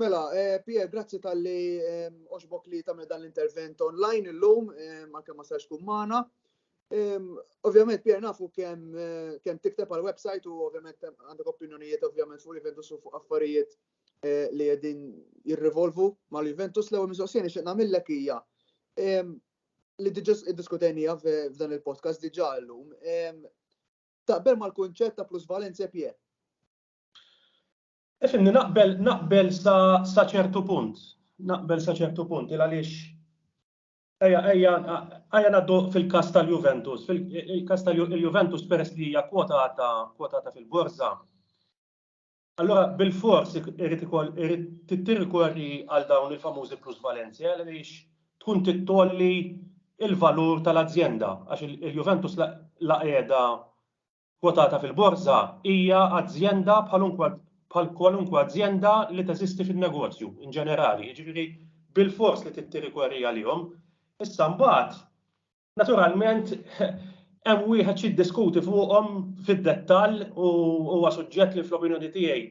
Mela, eh, Pier, grazzi tal-li eh, oġbok li tamil dan l-intervent online il-lum, eh, ma kemm ma sarx kun maħna. Ovvjament, Pier, nafu kem, kem tikteb għal website u ovvjament għandek opinjonijiet ovvjament fuq Juventus u fuq affarijiet li jedin jirrivolvu ma l-Juventus l-ewel mistoqsijeni xeqna millek hija. li diġa diskutenija f'dan il-podcast diġa l-lum, taqbel mal kunċett ta' plusvalenza pje. Efimni, naqbel, naqbel sa ċertu punt. Naqbel sa ċertu punt, il għaliex Eja, eja, eja naddu fil-kas tal-Juventus. Fil-kas tal-Juventus peress li hija kwotata, kwotata fil-borza. Allura bilfors irid ikoll irid tirrikorri għal dawn il-famużi plusvalenze għaliex tkun tittgħolli l-valur tal-azjenda għax il-Juventus la qiegħda kwotata fil-borża hija azjenda bħal kwalunkwe azjenda li teżisti fin-negozju in ġenerali, jiġifieri bilfors li trid tirrikorri għalihom. Issa mbagħad Naturalment, hemm wieħed xi jiddiskuti fuqhom fid-dettall u huwa suġġett li fl-opinjoni tiegħi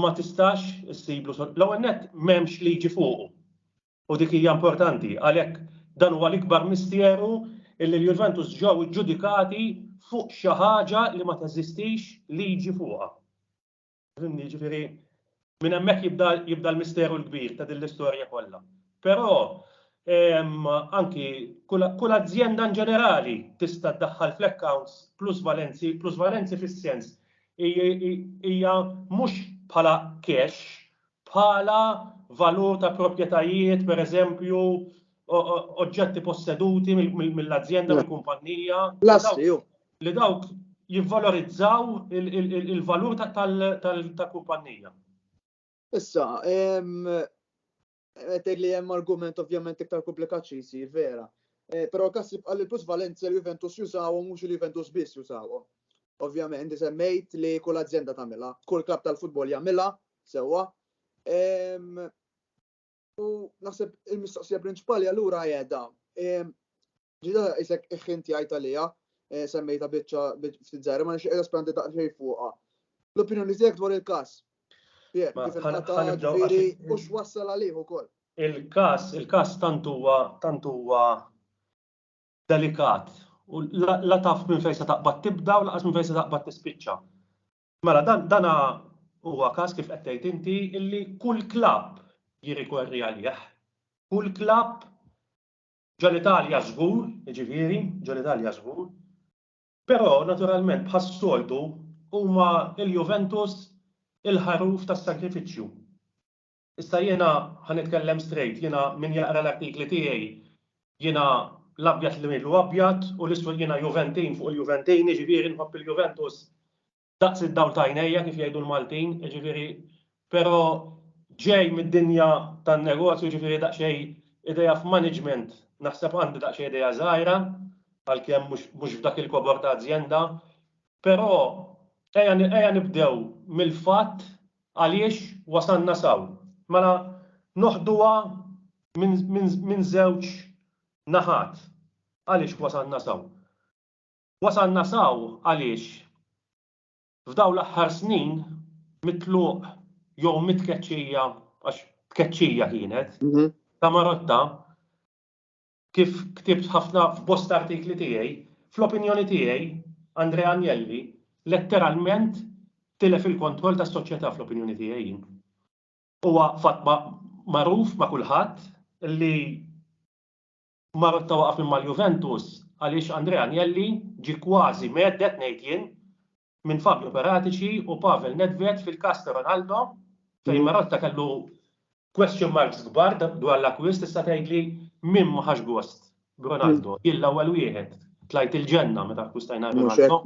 ma tistax issiblu l-ewwel nett m'hemmx liġi fuqu. U dik hija importanti għalhekk dan huwa l-ikbar misteru illi l-Juventus ġew iġġudikati fuq xi ħaġa li ma teżistix liġi fuqha. Fimni, jiġifieri minn hemmhekk jibda jibda l-misteru l-kbir ta' din l-istorja kollha. Però anki kull kull azjenda in ġenerali tista' ddaħħal fl-accounts plusvalenzi, plusvalenzi fis-sens hija mhux bħala cash bħala valur ta' proprjetajiet, pereżempju, oġġetti posseduti mill-azjenda, mill-kumpannija, li dawk jivvalorizzaw il-valur tal-kumpannija. Issa, qed tgħid li hemm argument ovvjament iktar komplikat xi jsir vera. Eh, però kas jibqa' li l-plus Valencia l-Juventus jużawhom mhux il-Juventus biss jużawhom. Ovvjament, semmejt li kull azienda tagħmilha, kull klab tal-futbol jagħmilha, Sewwa. U naħseb il-mistoqsija prinċipali allura jeda. Ġida isek iħin tiegħi talija, eh, semmejta biċċa ftit żgħira, ma nixtieq espandi daqsxejn fuqha. L-opinjoni tiegħek dwar il-każ. U x'wassal għalih ukoll. Il-każ, il-każ tant huwa tant huwa delikat. U la taf minn fejn se taqbad tibda u laqas minn fejn se taqbad tispiċċa. Mela dan dan huwa każ kif qed tgħid inti illi kull klabb jirrikorri għalih. Kull klabb ġo l-Italja żgur, jiġifieri, ġo l-Italja żgur. Però naturalment bħas-soltu huma l-Juventus il-ħaruf tas-sagrifiċċju. Issa jiena ħa nitkellem straight, jiena min jaqra l-artikli tiegħi jiena l-abjad li ngħidlu abjad u l-iswed jiena Juventin fuq il-Juventin, jiġifieri nħobb il-Juventus daqs id-dawl ta' għajnejja kif jgħidu l-Maltin, jiġifieri però ġej mid-dinja tan-negozju jiġifieri daqsxejn idea f'management naħseb għandi daqsxejn idea żgħira għalkemm mhux f'dak il-kobor ta' azjenda Però ejja nibdew mill-fatt għaliex wasalna s'hawn. Mela noħduha minn żewġ naħat għaliex wasalna s'hawn. Wasalna s'hawn għaliex f'dawn l-aħħar snin mit-tluq jew mit-tkeċċija, għax tkeċċija kienet, ta' Marotta, kif ktibt ħafna f'bosta artikli tiegħi, fl-opinjoni tiegħi, Andrea Agnelli letteralment tilef il-kontroll tas-soċjetà fl-opinjoni tiegħi jien. Huwa fatt magħruf ma' kulħadd li Marotta waqaf minn mal-Juventus għaliex Andrea Agnelli ġie kważi mheddet ngħid jien minn Fabio Paratici u Pavel Nedved fil-każ ta' Ronaldo fejn Marotta kellu question marks kbar dwar l-akkwist issa tgħidli min ma ħax gost b'Ronaldo? Jien l-ewwel wieħed tlajt il-ġenna meta akkwistajna Ronaldo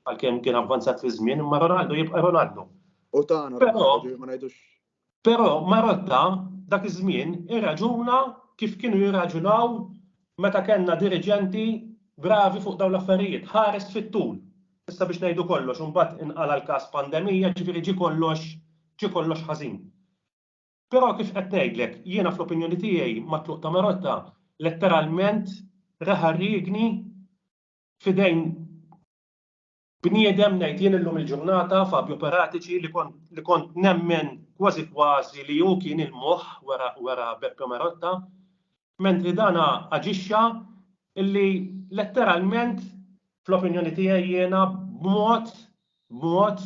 għalkemm kien avvanzat fiż-żmien imma Ronaldo jibqa' Ronaldo. U tagħna Ronaldo ma ngħidux Però Marotta dak iż-żmien irraġuna kif kienu jirraġunaw meta kellna diriġenti bravi fuq dawn l-affarijiet, ħares fit-tul. Issa biex ngħidu kollox u mbagħad inqala' l-każ pandemija, ġifieri ġie kollox ġie kollox ħażin. Però kif qed ngħidlek, jiena fl-opinjoni tiegħi mat-tluq ta' Marotta letteralment reħa r-riegni f'idejn Bniedem, ngħid jien illum il-ġurnata, Fabio Paratici, li kont li kont nemmen kważi kważi li hu kien il-moħħ wara wara Beppe Marotta, mentri dan aġixxa illi letteralment, fl-opinjoni tiegħi jiena, b'mod b'mod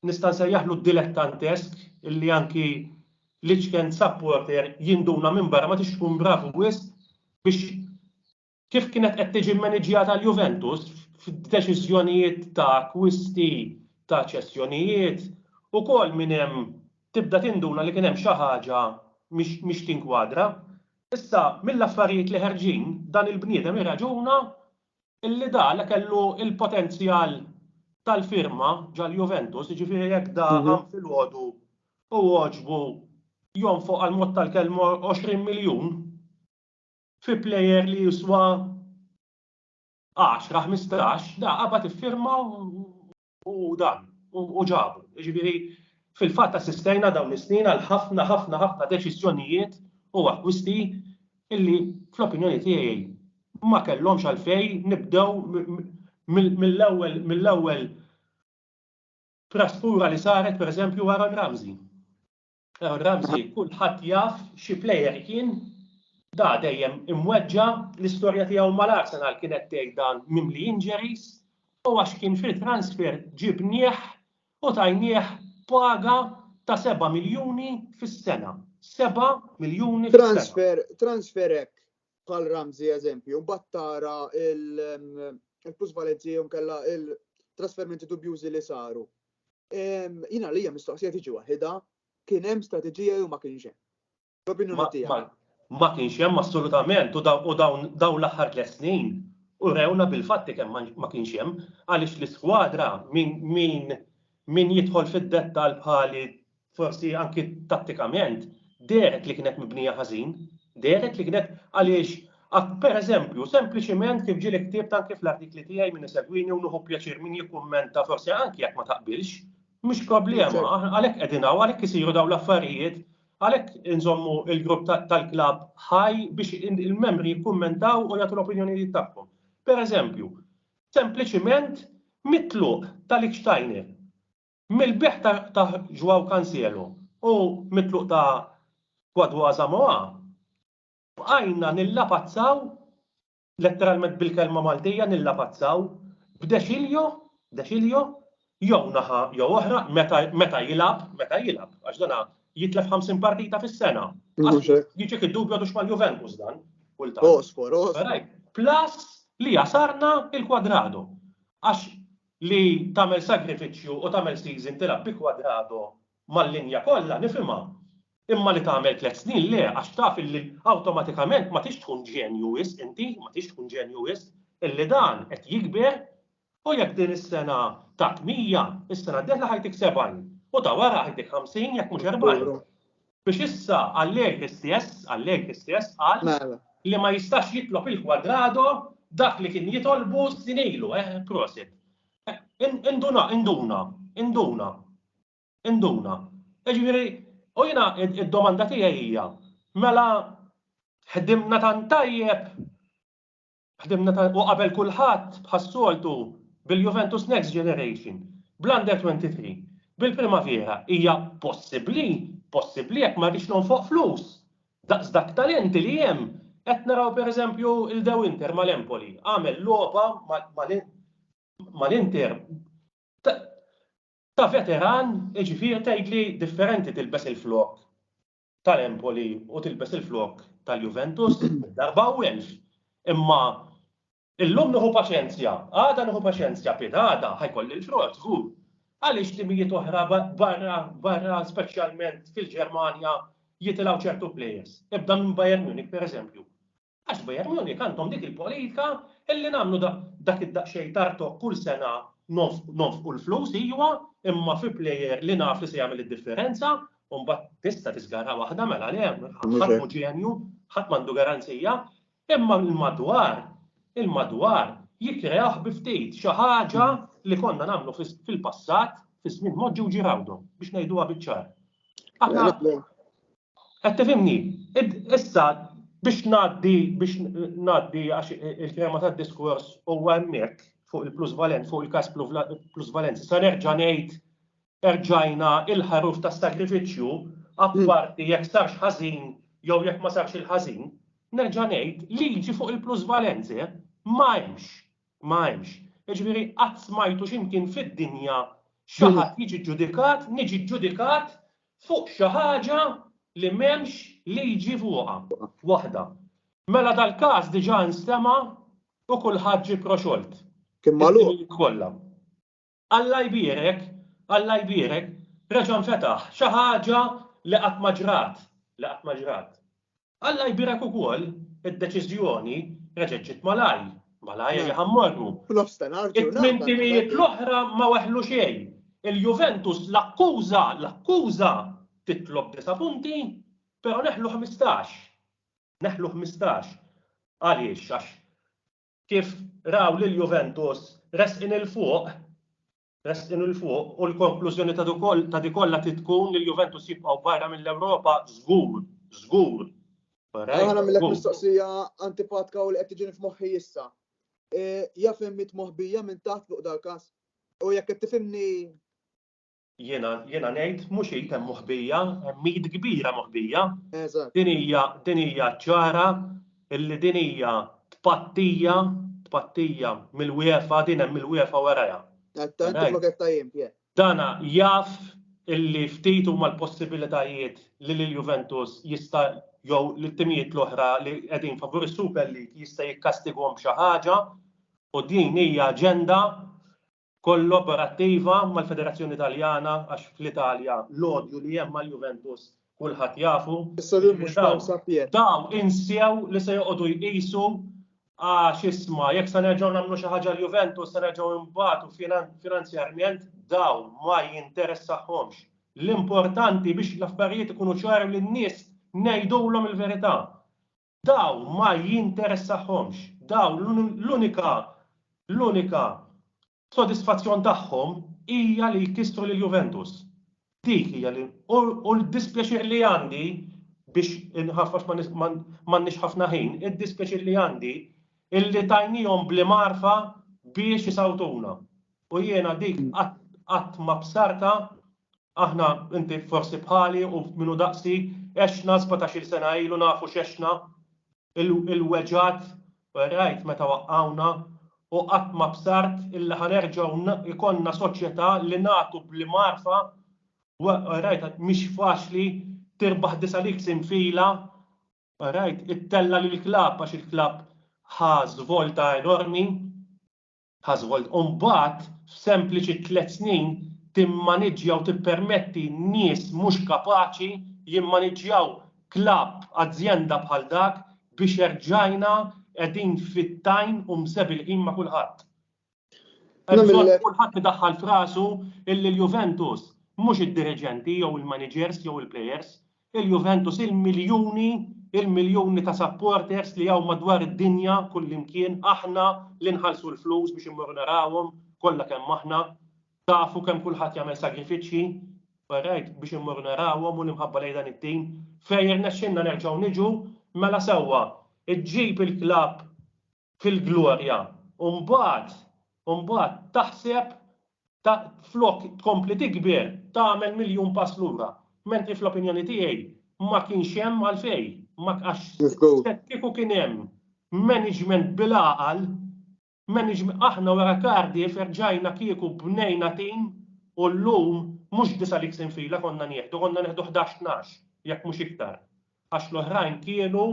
nista' nsejjaħlu dilettantesk illi anki l-iċken supporter jinduna minbarra ma tridx tkun bravu wisq biex Kif kienet qed tiġi mmaniġjata l-Juventus f'deċiżjonijiet ta' akkwisti, ta' ċessjonijiet, ukoll minn hemm tibda tinduna li kien hemm xi ħaġa mhix tinkwadra. Issa, mill-affarijiet li ħerġin, dan il-bniedem irraġuna li Dala kellu l-potenzjal tal-firma ġall-Juventus, jiġifieri jekk Dala filgħodu hu għoġbu jonfoq għall-mod tal-kelma 20 miljun, fi plejer li jiswa 10, 15, da qabad iffirma u dan, u ġabu. Ġifieri, fil-fatt assistejna dawn is-snin għal ħafna, ħafna, ħafna deċiżjonijiet u akkwisti illi fl-opinjoni tiegħi ma kellhomx għalfejn nibdew mill-ewwel mill-ewwel trasfura li saret pereżempju Aaron Ramsey. Ramsey kulħadd jaf xi plejer kien, da dejjem imweġġa', l-istorja tiegħu mal-Arsenal kienet tgħid dan mimli injuries, u għax kien fil-transfer ġibnieh u tajnieh paga ta' seba' miljuni fis-sena. Seba' miljuni fis-sena. Transfer, transfer hekk bħal Ramsey eżempju, mbagħad tara il-plusvalenzi jew kella il-trasferimenti dubjużi li saru. Jina li hija mistoqsija tiġi waħida, kien hemm strateġija jew ma kienx hemm. L-opinjoni tiegħek. Ma kienx hemm assolutament u dawn l-aħħar tliet snin u rewna bil-fatti kemm ma kienx hemm għaliex l-iskwadra min jidħol fid-dettall bħali Forsi anki tattikament dehret li kienet mibnija ħażin, dehret li kienet għaliex per eżempju, sempliċiment kif ġieli ktibt anki fl-artikli tiegħi min isegwini u nieħu pjaċir min jikkummenta forsi anki jekk ma taqbilx, mhux problema, għalhekk qegħdin hawn, għalhekk isiru dawn l-affarijiet, għalhekk inżommu l-grupp tal-klabb ħaj biex il-membri jikkummentaw u jagħtu l-opinjonijiet tagħhom. Per eżempju, sempliċiment mitluq tal-ikxtajni. Mill-bejgħ ta' Joao Cancielo u mit-tluq ta' Kwadwo Asamoah, bqajna nillapazzaw, letteralment bil-kelma Maltija nillapazzaw, b'Decilio, Decilio, jew naħa jew oħra, meta, meta jilgħab, meta jilgħab, għax dan jitlef 50 partita fis-sena. Mhux hekk. Jiġik id-dubju għadux mal-Juventus dan, kultant. Osfor, osfor. Plus li jasarna il-Quadrado. Għax Li tagħmel sagrifiċċju u tagħmel season tilgħab bi Cuadrado mal-linja kollha nifhimha, imma li tagħmel tliet snin le għax taf illi awtomatikament ma tridx tkun ġenju wisq inti, ma tridx tkun ġenju wisq, illi dan qed jikber u jekk din is-sena tat 100, is-sena d-dieħla ħa jtik 70 u ta' wara ħa jtik 50 jekk mhux 40. Biex issa Allegri stess, Allegri stess qal mela. li ma jistax jitlob il-kwadrado dak li kien jitolbu s-sin ilu, eh, prosit. Eh, induna, induna, induna, induna. Eġviri, u jina id-domanda tijaj hija, mela ħdimna tan tajjeb Ħdimna ta' u qabel kulħadd bħas-soltu bil-Juventus Next Generation, bl-Under 23, bil-Primavera, hija possibbli, possibbli jekk ma rridx nonfoq flus. Daqs dak talenti li hemm, qed naraw pereżempju il De Winter mal-Empoli, għamel logħba mal-Inter ta' veteran, jiġifieri tgħidli differenti tilbes il-flokk tal-Empoli u tilbes il-flokk tal-Juventus darba u elf. Imma illum nieħu paċenzja, għada nieħu paċenzja, pitada ħajkolli l-frott, żgur. Għaliex timijiet oħra barra, barra speċjalment fil-Ġermanja jitilgħu ċertu plejers. Ibda minn Bayern Munich, pereżempju. Għax Bayern Munich għandhom dik il-politika illi nagħmlu dak id-daqsxejn tartok kull sena nonfqu l-flus iwa, imma fi plejer li naf li se jagħmel id-differenza, u mbagħad tista' tiżgarha waħda mela le, ħadd mhu ġenju, ħadd m'għandu garanzija, imma l-madwar, il-madwar jikkreah bi ftit, xi ħaġa li konna nagħmlu fil-passat, fiż-żmien Moġġi u Ġiraldo, biex ngħiduha biċ-ċar. Qed tifhimni? Issa biex ngħaddi biex ngħaddi għax il-fehma tad-diskors huwa hemmhekk fuq il-plusvalenza, fuq il-każ plusvalenza, se nerġa' ngħid erġajna il-ħaruf tas-sagrifiċċju apparti jekk sarx ħażin jew jekk ma sarx il-ħażin, nerġa' ngħid liġi fuq il-plusvalenze ma hemmx, ma hemmx. Jiġifieri qatt smajtu xi mkien fid-dinja xi ħadd jiġi ġġudikat, niġi ġġudikat fuq xi ħaġa li m'hemmx liġi fuqha. Waħda. Mela dal-każ diġà nstema' u kulħadd ġie proxolt. Kien magħluq? Is-snin kollha. Alla jbierek, Alla jbierek, reġa' nfetaħ, xi ħaġa li qatt ma ġrat, li qatt ma ġrat. Alla jbierek ukoll, id-deċiżjoni reġgħet ġiet malajr, malajr li ħa mmorru. It-tmien timijiet l-oħra ma weħlu xejn. Il-Juventus l-akkuża, l-akkuża titlob disa' punti, però neħlu ħmistax. Neħlu ħmistax. Għaliex? Għax kif raw lill-Juventus resqin 'il fuq, Resqin 'il fuq u l-konklużjoni ta' di kollha trid tkun li l-Juventus jibqgħu barra mill-Ewropa żgur, żgur. Ħa nagħmilek mistoqsija antipatka u li qed tiġini f'moħħi issa. Jaf hemm mitt moħbija minn taħt fuq dal-każ? U jekk qed tifhimni Jiena jiena ngħid mhux id hemm moħbija, hemm id kbira moħbija. Din hija din hija ċara illi din hija tpattija, tpattija mill-UEFA, din hemm il-UEFA warajha. Dan jaf illi ftit huma l-possibilitajiet li lil Juventus jista' jew lit-timijiet l-oħra li qegħdin favur is-Super League jista' jikkastiguhom b'xi ħaġa u din hija aġenda kollaborattiva mal-Federazzjoni Taljana għax fl-Italja l-odju li hemm mal-Juventus kulħadd jafu, jiġifieri dawn insew li se joqogħdu jqisu għax isma' jekk se nerġgħu nagħmlu xi ħaġa l-Juventus se nerġgħu nbatu finanzjarjment dawn ma jinteressahomx. L-importanti biex l-affarijiet ikunu ċari lin-nies ngħidulhom il-verità. Daw ma jinteressahomx. Daw l-unika l-unika sodisfazzjon tagħhom hija li jkissru lil Juventus. Dik hija li u l-dispjaċir li għandi biex inħaff għax m'għandniex ħafna ħin, id-dispjaċir li għandi illi tajniehom bl-imgħarfa biex isawtuna. U jiena dik qatt qatt ma bsartha Aħna, inti forsi bħali u min hu daqsi, għexna sbatax-il sena ilu nafu x'għexna, il-weġgħat li rajt meta waqqgħuna u qatt ma bsart illi ħa nerġgħu jkollna soċjetà li nagħtu bl-imgħarfa u rajt mhix faċli tirbaħ disa' leagues infila u rajt ittella' lill-klabb għax il-klabb ħa żvolta enormi. Household u mbagħad f'sempliċi tliet snin timmaniġġja u tippermetti nies mhux kapaċi jimmaniġġjaw klabb, azjenda bħal dak biex erġajna qegħdin fit-tajn u msebilħin ma' kulħadd. Hemm bżonn li kulħadd idaħħal f'rasu illi l-Juventus mhux id-diriġenti jew il-maniġers jew il-plejers Il-Juventus, il-miljuni, il-miljuni ta' supporters li hawn madwar id-dinja kullimkien, aħna li nħallsu l-flus biex immorru narawhom kollha kemm aħna, tafu kemm kulħadd jagħmel sagrifiċċji, orajt, biex immorru narawhom u l-imħabba lejn dan it-tim. Fejn irnexxilna nerġgħu niġu, mela sewwa, iġġib il-klabb fil-glorja u mbagħad u mbagħad taħseb ta' flok tkompli tikber tagħmel miljun pass lura. Mentri fl-opinjoni tiegħi ma kienx hemm għalfejn ma għax x'hekk kieku kien hemm management bil-għaqal management aħna wara Cardiff erġajna kieku bnejna tim u llum mhux disa' leagues infila konna nieħdu konna neħdu ħdax tnax jekk mhux iktar. Għax l-oħrajn kienu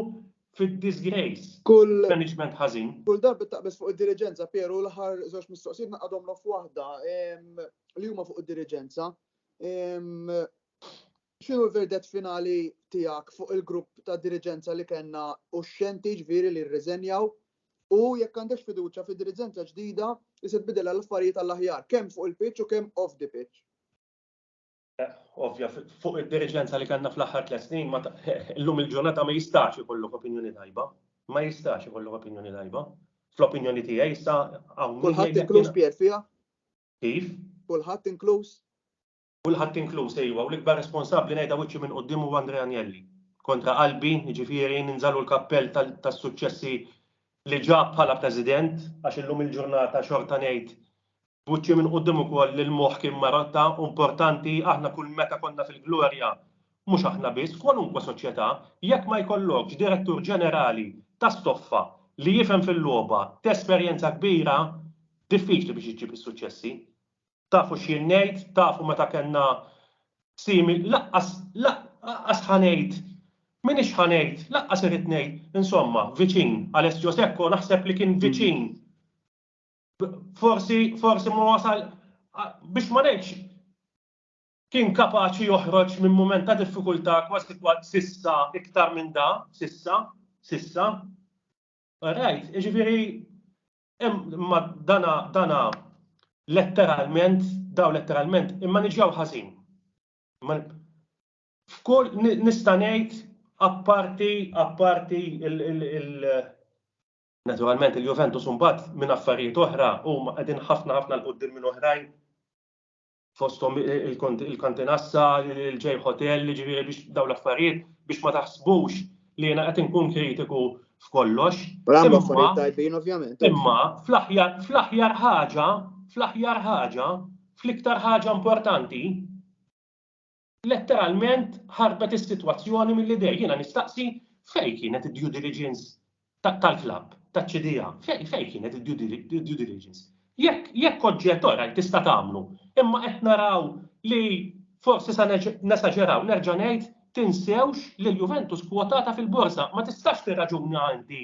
fid-disgrace. Kull. Management ħażin. Kull darba taqbeż fuq id-diriġenza, Piero, l-aħħar żewġ mistoqsijiet naqadhom l waħda li huma fuq id-diriġenza. X'inhu l-verdet finali tiegħek fuq il-grupp ta' diriġenza li kellna u x-xenti ġifieri li rriżenjaw u jekk għandek fiduċja fid-diriġenza ġdida li se tbidilha l-affarijiet għall-aħjar kemm fuq il-pitch u kemm off the pitch. ovvja fuq id-diriġenza li kellna fl-aħħar tliet snin, illum il-ġurnata ma jistax ikollok opinjoni tajba. Ma jistax ikollok opinjoni tajba. Fl-opinjoni tiegħi issa hawn. Kulħadd inkluż Pier fiha? Kif? Kulħadd inkluż? Kulħadd inkluż ejwa, u l-ikbar responsabbli ngħidha wiċċi minn quddiem huwa Andrea Anjelli. Kontra qalbi, jiġifieri ninżalu l-kappell tas-suċċessi li ġab bħala President, għax illum il-ġurnata xorta ngħid Buċċi minn quddiem ukoll li l-moħħ kien marotta u importanti, aħna kull meta konna fil-glorja, mhux aħna biss, kwalunkwe soċjetà, jekk ma jkollokx direttur ġenerali ta' stoffa li jifhem fil-logħba, t'esperjenza kbira, diffiċli biex iġġib is-suċċessi. Tafu x'jien ngħid, tafu meta kellna simi, laqqas, laqqas ħa ngħid, m'iniex ħa ngħid, laqqas irrid ngħid, insomma, viċin, Alessio Secco naħseb li kien viċin. forsi forsi ma wasal biex ma ngħidx kien kapaċi joħroġ minn mument ta' diffikultà kważi kważi sissa iktar minn da, sissa, sissa. Right, ġifieri imma dana dana letteralment daw letteralment imma niġġaw ħażin. F'kull nista' ngħid apparti apparti il Naturalment il-Juventus imbagħad minn affarijiet oħra huma qegħdin ħafna ħafna l quddiem minn oħrajn fosthom il-kantinassa, il-ġej hotel, ġifieri biex dawn l-affarijiet biex ma taħsbux li jiena qed inkun kritiku f'kollox. Imma fl-aħjar ħaġa, fl-aħjar ħaġa, fl-iktar ħaġa importanti, Letteralment ħarbet is-sitwazzjoni mill-idejn. Jiena nistaqsi fejn kienet id-due diligence tal-klabb, taċ-ċidija? Fejn kienet id-due diligence? Jekk oġġett orajt tista' tagħmlu, imma qed naraw li forsi se nesaġeraw, nerġa' ngħid tinsewx li l-Juventus kwotata fil-borża. Ma tistax tirraġuna inti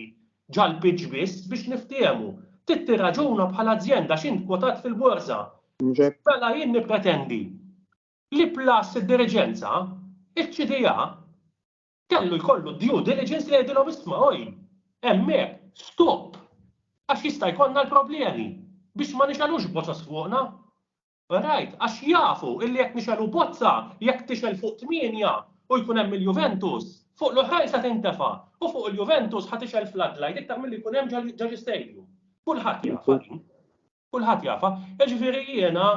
ġall-pitch biss biex niftiehmu. Trid tirraġuna bħala azjenda għax int kwotat fil-borża. Mela jien nippretendi Li plus id-diriġenza, iċ-CDA, kellu jkollu due diligence li jgħidilhom isma' oj, hemmhekk stop għax jista' jkollna l-problemi biex ma nixgħelux bozoz fuqna. Alright, għax jafu illi jekk nixgħelu bozza, jekk tixgħel fuq tmienja u jkun hemm il-Juventus, fuq l-oħrajn se tintefa' u fuq il-Juventus ħa tixgħel floodlight iktar milli jkun hemm ġo xi stadium. Kulħadd jafha din. Kulħadd jafha. Jiġifieri jiena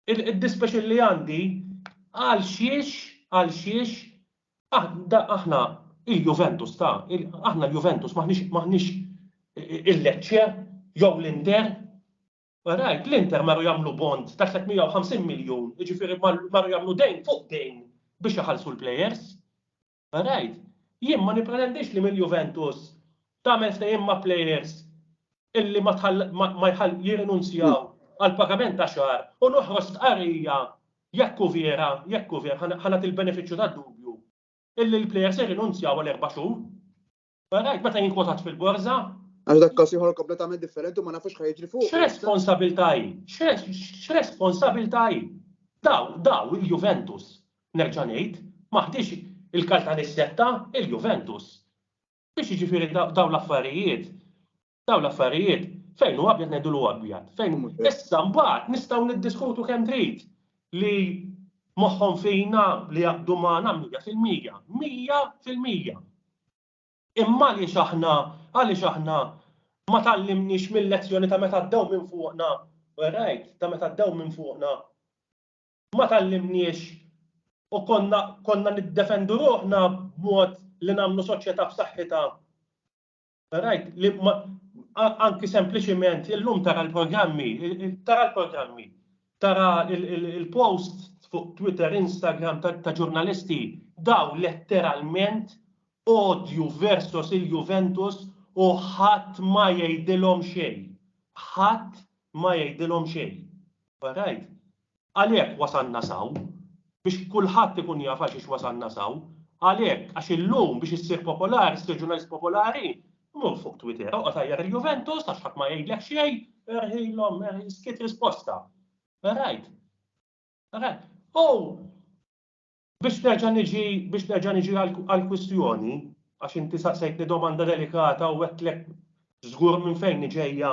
Il-dispjaċir li għandi għalxiex, għalxiex aħna il-Juventus ta', aħna l-Juventus m'aħniex il-Lecce jew l-Inter. Rajt, l-Inter marru jagħmlu bond ta' 350 miljun, jiġifieri marru jagħmlu dejn fuq dejn biex iħallsu l-plejers. Right. Jien ma nippretendix li mill-Juventus tagħmel ftehim ma' plejers illi ma jħall jirrinunzjaw għall-pagament ta' xahar u noħroġ stqarrija jekk hu vera, jekk hu vera, ħa nagħti l-benefiċċju tad-dubju, illi l-plejers irrinunzjaw għal erba' xhur. Barajt meta jinkwotat fil-borża? Għax dak każ ieħor kompletament differenti u ma nafux xa jiġri fuq. X'responsabilità hi? X'responsabilità hi? Daw, daw il-Juventus, nerġa' ngħid, ma ħdiex il-kaltan is-setta, il-Juventus. Biex jiġifieri dawn l-affarijiet Dawn l-affarijiet fejn hu abjad ngħidu hu abjad. Fejn issa mbagħad nistgħu niddiskutu kemm trid li moħħhom fina li jaqbdu magħna mija fil-mija, mija fil-mija. Imma għaliex aħna għaliex aħna ma tallimniex mill-lezzjoni ta' meta ddew minn fuqna, rajt, ta' meta ddew minn fuqna, ma tallimniex u konna konna niddefendu ruħna b'mod li nagħmlu soċjetà b'saħħitha Rajt, li anki sempliċiment illum tara l-programmi, tara l-programmi, tara il-post fuq Twitter, Instagram ta' ġurnalisti daw letteralment odju versus il-Juventus u ħadd ma jgħidilhom xejn. Ħadd ma jgħidilhom xejn. Barajt, Għalhekk wasalna s'hawn, biex kulħadd ikun jaf għalxiex wasalna s'hawn, għalhekk għax illum biex issir popolari, ssir ġurnalist popolari, mur fuq Twitter, oqgħod għajjar il-Juventus għax ħadd ma jgħidlek xejn, erħilhom, erħi, skiet risposta. Rajt. Rajt. U Biex nerġa' niġi, biex nerġa' niġi għall-kwistjoni, għax inti saqsejtni domanda delikata u għedtlek żgur minn fejn ġejja.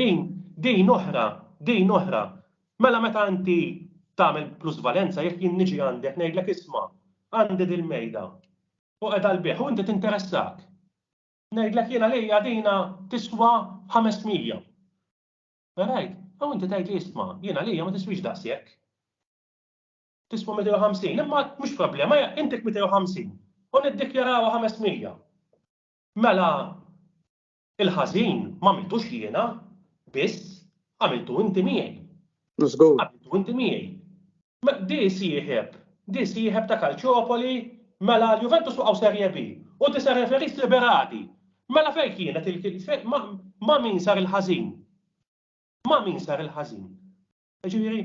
Din, din oħra, din oħra. Mela meta inti tagħmel plusvalenza, jekk jien niġi għandek ngħidlek isma', għandi dil-mejda u qiegħda għall-bejgħ u inti tinteressak. Ngħidlek jien għalija dina tiswa 500. All right? U inti tgħidli isma', jien għalija ma tiswix daqshekk. Tiswa 250, imma mhux problema, intik 250 u niddikjarawha 500. Mela il-ħażin m'għamiltux jiena biss, għamiltu inti miegħi. Żgur. Għamiltu inti miegħi. Di sieħeb, di sieħeb ta' Kalċopoli, mela l-Juventus waqgħu Serje B u di se referis liberati. Mela fejn kienet il ma' min sar il-ħażin? Ma' min sar il-ħażin? Ġifieri,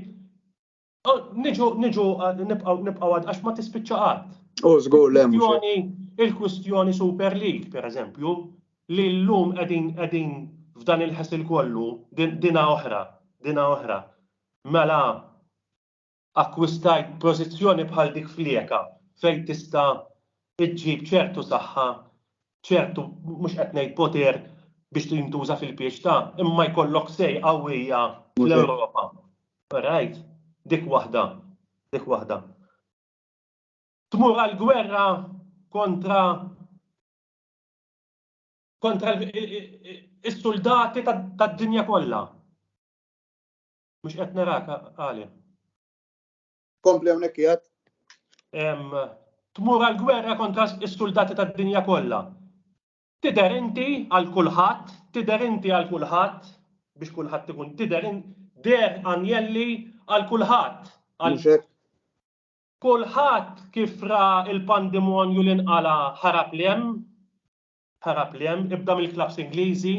Oh, niġu, niġu, nibqaw, nibqaw għad, għax ma tispiċċa għad. U oh, zgur lem. Il-kwistjoni Super League, per eżempju, li l-lum għedin, għedin f'dan il-ħasil kollu, dina oħra, dina oħra. Mela, akkwistajt pozizjoni bħal dik flieka, fej tista' iġġib ċertu saħħa ċertu, mhux qed ngħid poter biex jintuża fil-pieċ ta', imma jkollok say qawwija fl-Ewropa. Alright? Dik waħda. Dik waħda. Tmur għal gwerra kontra kontra is-suldati tad-dinja kollha. Mhux qed narak għalih. Kompli hawnhekk jgħid. Tmur għal gwerra kontra s-suldati tad-dinja kollha. Tidher inti għal kulħadd, tidher inti għal kulħadd biex kulħadd ikun tidher der anjelli għal kulħadd. Kulħadd kif ra il-pandemonju li nqala ħarab li hemm, ħarab li hemm, ibda mill-klaps Ingliżi,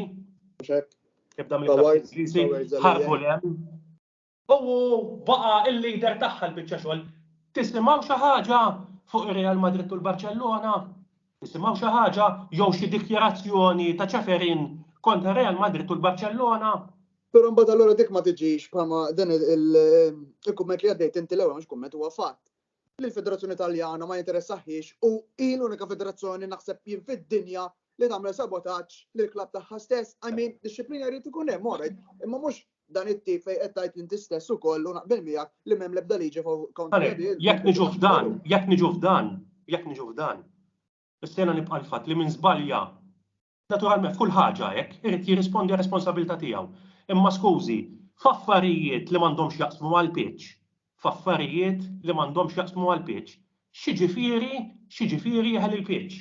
ibda mill-klaps Ingliżi, ħarbu li hemm. U baqa' l-leader tagħha l-biċċa xogħol. Tisimgħu xi ħaġa fuq ir-Real Madrid u l-Barċellona? Tisimgħu xi ħaġa jew xi dikjarazzjoni ta' Ceferin kontra r-Real Madrid u l-Barċellona? Però mbagħad allura dik ma tiġix bħalma dan il-kumment li għaddejt inti l-ewwel mhux kumment huwa fatt. lill-Federazzjoni Taljana ma jinteressahiex u hi l-unika federazzjoni naħseb jien fid-dinja li tagħmel sabotaġġ lill-klabb tagħha stess, I mean, dixxiplina jrid ikun hemm, all right, imma mhux dan it-tip fejn qed tgħid inti stess ukoll u naqbel miegħek li m'hemm l-ebda liġi kontra Għalhekk, din. jekk niġu f'dan, jekk niġu f'dan, jekk niġu f'dan, is-sena nibqa' l-fatt li min żbalja Naturalment f'kull ħaġa hekk irid jirrispondi għar-responsabilità tiegħu. Imma skużi, f'affarijiet li m'għandhomx jaqsmu mal-pitch, f'affarijiet li m'għandhomx jaqsmu mal-pitch, x'jiġifieri, x'jiġifieri jeħel il-pitch?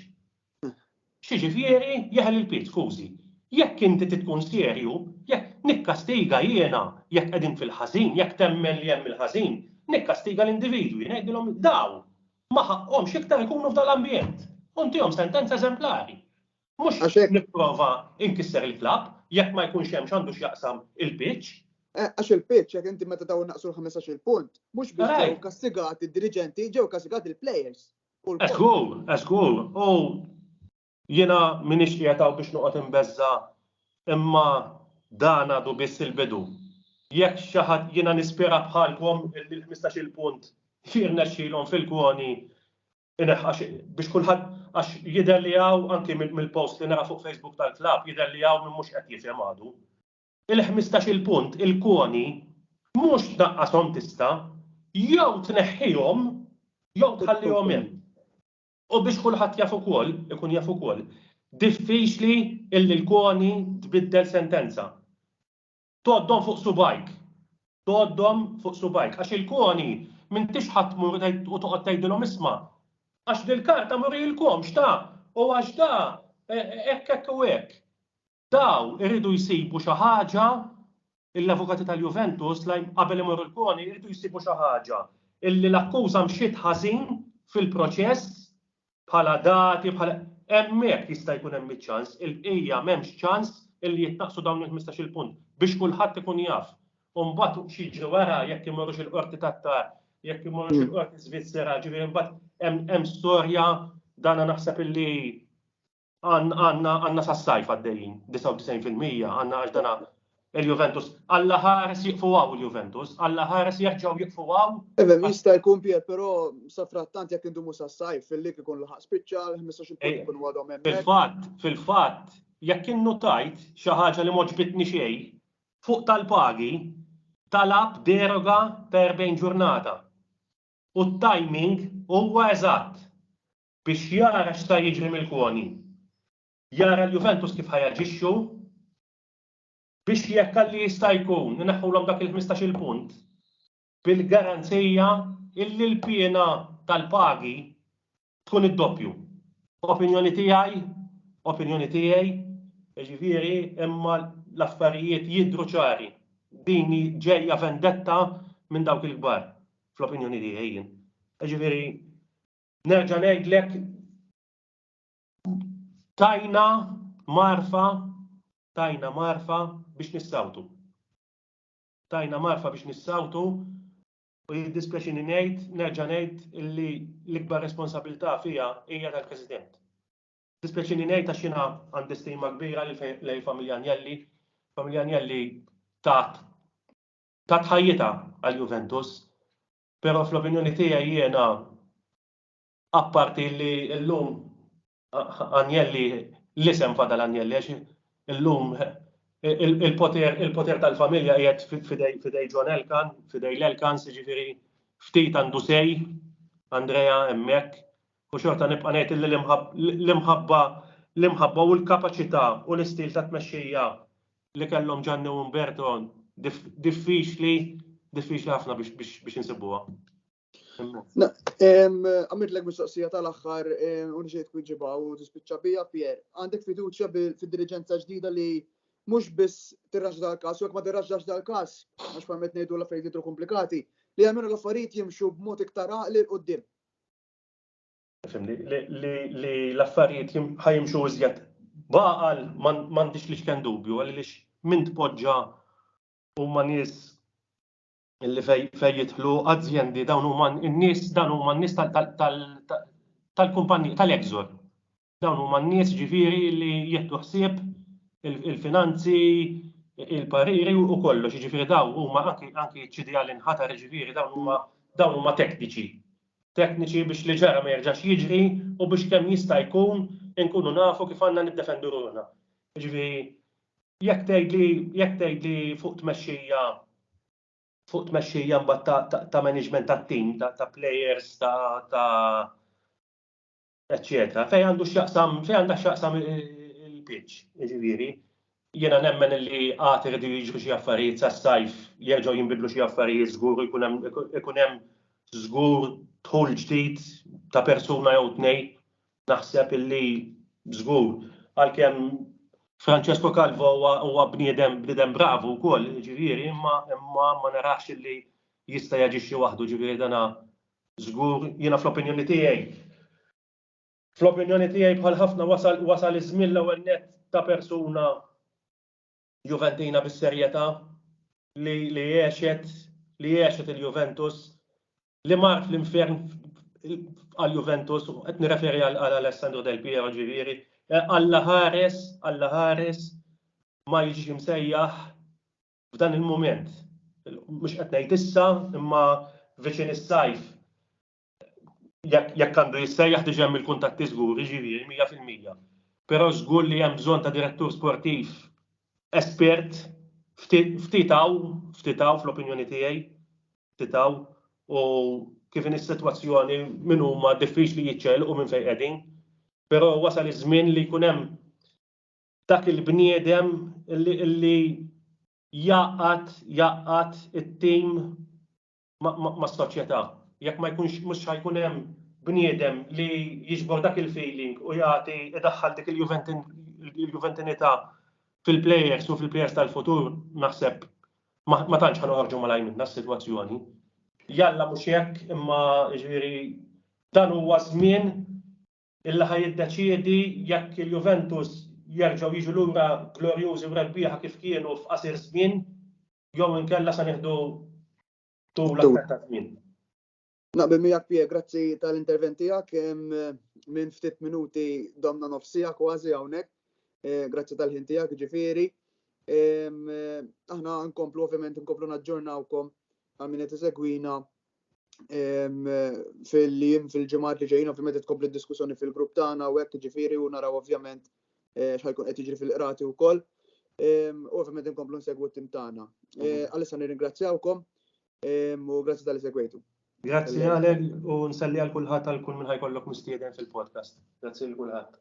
X'jiġifieri jeħel il-pitch, skużi? Jekk inti trid tkun serju, jekk nikkastiga jiena jekk qegħdin fil-ħażin, jekk temmen li hemm il-ħażin, nikkastiga l-individwi, ngħidilhom dawn, ma ħaqqhomx iktar ikunu f'dan l-ambjent. U ntihom sentenza eżemplari. Mhux nipprova inkisser il-klabb jekk ma jkunx hemm x'għandu x'jaqsam il-pitch. Eh, għax il-pitch, jekk inti meta dawn naqsu l-15-il punt, mhux biss ġew kastigati d-diriġenti, ġew kastigati l-players. Eżgur, eżgur. U Jiena m'iniex qiegħed hawn biex noqgħod inbeżża' imma dan għadu biss il-bidu. Jekk xi ħadd jiena nispera bħalkom illi l-ħmistax-il punt li jirnexxilhom fil-kwoni ineħħa xi biex kulħadd għax jidher li hawn anki mill-post li nara fuq Facebook tal-klabb jidher li hawn min mhux qed jifhem għadu. Il-ħmistax-il punt il-kwoni mhux tnaqqashom tista', jew tneħħihom jew tħallihom hemm. U biex kulħadd jaf ukoll, ikun jaf ukoll, diffiċli illi l-CONI tbiddel sentenza. Tgħoddhom fuq subgħajk. Tgħoddhom fuq subgħajk. Għax il-CONI m'intix ħa tmur u tgħid u toqgħod tgħidilhom isma', għax dil-karta m'urilkomx ta, u għax da hekk hekk u hekk. Daw iridu jsibu xi ħaġa, l-avukati tal-Juventus, qabel imorru l-CONI, iridu jsibu xi ħaġa illi l-akkuża mxiet ħażin fil-proċess bħala dati, bħala, hemmhekk jista' jkun hemm iċ-ċans, il-bqija m'hemmx ċans illi jitnaqqsu dawn il-ħmistax-il punt biex kulħadd ikun jaf. U mbagħad x'jiġri wara jekk imorrux il-Qorti tat-TAR, jekk imorrux il-Qorti Svizzera, ġifieri mbagħad hemm storja dana naħseb illi għanna sas-sajf għaddejjin 99% għanna għax dana il-Juventus. Alla ħares jiqfu għaw il-Juventus, alla ħares jerġaw jiqfu għaw. Ebe, mista jkun pjer, pero safrattant jek indumu sas-sajf fil-lik ikun laħaq spiċċa, 15 punt eh, ikun għadhom hemm. Fil-fatt, fil-fatt, jekk innu tajt xi ħaġa li moġbitni xejn, fuq tal-pagi talab deroga per bejn ġurnata. U t-timing huwa eżatt biex jara x'sa jiġri mill-koni. Jara l-Juventus kif ħa jaġixxu biex jekk għalli jista' jkun ineħħulhom dak il-ħmistax-il punt bil-garanzija illi l-piena tal-pagi tkun id-doppju. Opinjoni tiegħi, opinjoni tiegħi, jiġifieri imma l-affarijiet jidhru ċari. Din ġejja vendetta minn dawk il-kbar, fl-opinjoni tiegħi jien. Jiġifieri Nerġa' ngħidlek tajna marfa tajna marfa biex nissawtu. Tajna marfa biex nissawtu u jiddispjaċini ngħid, nerġa' ngħid li l-ikbar responsabilità fija hija tal-President. Dispjaċini ngħid għax jiena għandi stima kbira lejn familja Anjelli. Familja Anjelli tat tat ħajjitha għal Juventus Pero fl-opinjoni tiegħi jiena apparti li llum Agnelli l-isem fadal Agnelli għax illum il-poter il-poter tal-familja qiegħed f'idej f'idej John Elkann, f'idej l-Elkanns jiġifieri ftit għandu say Andrea hemmhekk u xorta nibqa' ngħid illi l-imħabba l-imħabba l-imħabba u l-kapaċità u l-istil ta' tmexxija li kellhom Ġanni u Umberto diffiċli diffiċli ħafna biex insibuha. Għamidlek mistoqsija tal-axħar unġiet kun ġibaw u tispiċċa bija Pier. Għandek fiduċja fil-dirigenza ġdida li mux biss tirraġ dal-kas, u ma tirraġax dal-kas, għax famet nejdu l-affarijiet komplikati, li għamil l-affarijiet jimxu b'mod iktar għaqli l-qoddim. Fimni, li l-affarijiet ħajimxu iżjed baqal m'għandix li xken dubju għaliex minn tpoġġa huma nies li fejn jidħlu azjendi dawn huma n-nies dawn huma n-nies tal-kumpanija tal-Exor. Dawn huma n-nies ġifieri li jieħdu ħsieb il-finanzi, il-pariri u kollox, ġifieri dawn huma anki ċidja li nħatar ġifieri dawn huma tekniċi. tekniċi biex li ġara ma jerġax jiġri u biex kemm jista' jkun inkunu nafu kif għandna niddefendu ruħna. Jiġifieri jekk tgħidli jekk tgħidli fuq tmexxija fuq tmexxija mbagħad ta' ta' management tat-tim, ta' ta' players, ta' ta' eċċetera. Fejn għandu x'jaqsam, fejn għandha x'jaqsam il-pitch, jiġifieri, jiena nemmen li għad irridu jiġru xi affarijiet sas-sajf, jerġgħu jinbidlu xi affarijiet żgur ikun hemm żgur dħul ġdid ta' persuna jew tnej. Naħseb illi żgur għalkemm Francesco Calvo huwa bniedem bniedem bravu wkoll, jiġifieri, imma imma ma narax illi jista' jaġixxi waħdu, ġifieri dana Żgur, jiena fl-opinjoni tiegħi. Fl-opinjoni tiegħi bħal ħafna wasal wasal iż-żmien l-ewwel nett ta' persuna Juventina bis-serjetà li li għexet li għexet il-Juventus li mart l-infern għall-Juventus u qed nirreferi għal Alessandro Del Piero ġifieri Alla ħares, Alla ħares ma jiġix imsejjaħ f'dan il-mument, mhux qed ngħid issa imma viċin is-sajf jekk għandu jissejjaħ diġà hemm il-kuntatti żgur, jiġifieri mija fil-mija. Però żgur li hemm bżonn ta' direttur sportiv espert ftit hawn, ftit hawn fl-opinjoni tiegħi, ftit hawn u kif in is-sitwazzjoni min huma diffiċli jiċċelqu minn fejn qegħdin. Però wasal iż-żmien li jkun hemm dak il-bniedem li jaqgħad jaqgħad it-tim mas-soċjetà. Jekk ma jkunx mhux ħa jkun hemm bniedem li jiġbor dak il-feeling u jagħti idaħħal dik il-juventinità fil-plejers u fil-plejers tal-futur naħseb ma tantx ħa noħorġu malajr minnha s-sitwazzjoni. Jalla mhux hekk imma jiġifieri dan huwa żmien illi ħa jiddeċiedi jekk il-Juventus jerġgħu jiġu lura glorjużi u rebbieħa kif kienu f'qasir żmien jew inkella se nieħdu tul aktar ta' żmien. Naqbel miegħek Pier, grazzi tal-intervent tiegħek. Minn ftit minuti domna nofsija kważi hawnhekk. Eh, grazzi tal-ħin tiegħek ġifieri. Aħna nkomplu ovvjament nkomplu naġġornawkom għal min qed isegwina fil-jiem fil-ġimgħat li ġejjin ovvjament qed tkompli diskussjoni fil-grupp tagħna u hekk ġifieri u naraw ovvjament eh, x'ħajkun qed jiġri fil-qrati wkoll. U ovvjament inkomplu nsegwu t-tim tagħna. Eh, Għalissa nirringrazzjawkom u grazzi tal-li segwejtu. Grazzi għalek u nsalli għal kulħadd għal kull minn ħajkollok mistieden fil-podcast. Grazzi għal kulħadd.